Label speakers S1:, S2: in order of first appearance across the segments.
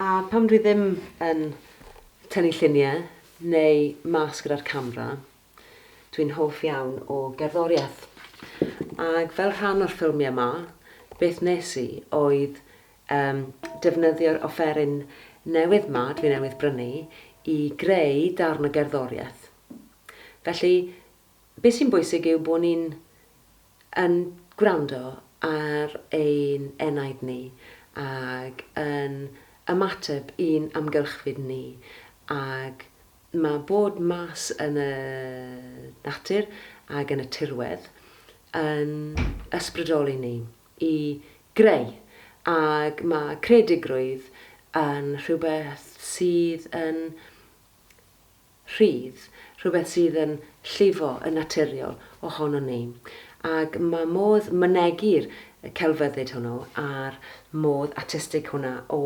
S1: A pam dwi ddim yn tynnu lluniau neu mas gyda'r camera, dwi'n hoff iawn o gerddoriaeth. Ac fel rhan o'r ffilmiau ma, beth nes i oedd um, defnyddio'r offeryn newydd ma, dwi newydd brynu, i greu darn o gerddoriaeth. Felly, beth sy'n bwysig yw bod ni'n yn gwrando ar ein enaid ni ac yn ymateb i'n amgylchfyd ni. Ac mae bod mas yn y natur ac yn y tirwedd yn ysbrydoli ni i greu ac mae creadigrwydd yn rhywbeth sydd yn rhydd, rhywbeth sydd yn llifo yn naturiol ohonon ni, ac mae modd mynegi'r celfyddyd hwnnw a'r modd artistig hwnna o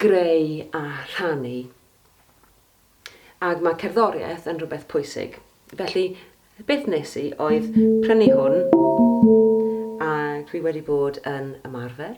S1: greu a rhannu, ac mae cerddoriaeth yn rhywbeth pwysig. Felly, beth wnes i oedd prynu hwn, a dwi wedi bod yn ymarfer.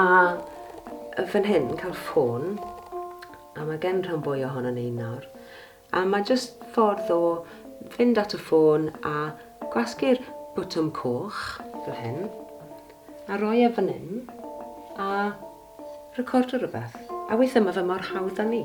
S1: A fan hyn, cael ffôn, a mae gen rhan fwy ohono ni nawr. A mae jyst ffordd o fynd at y ffôn a gwasgu'r bwtwm coch, fel hyn, a roi e fan hyn, a recordo rhywbeth. A weithiau mae fe mor hawdd â ni.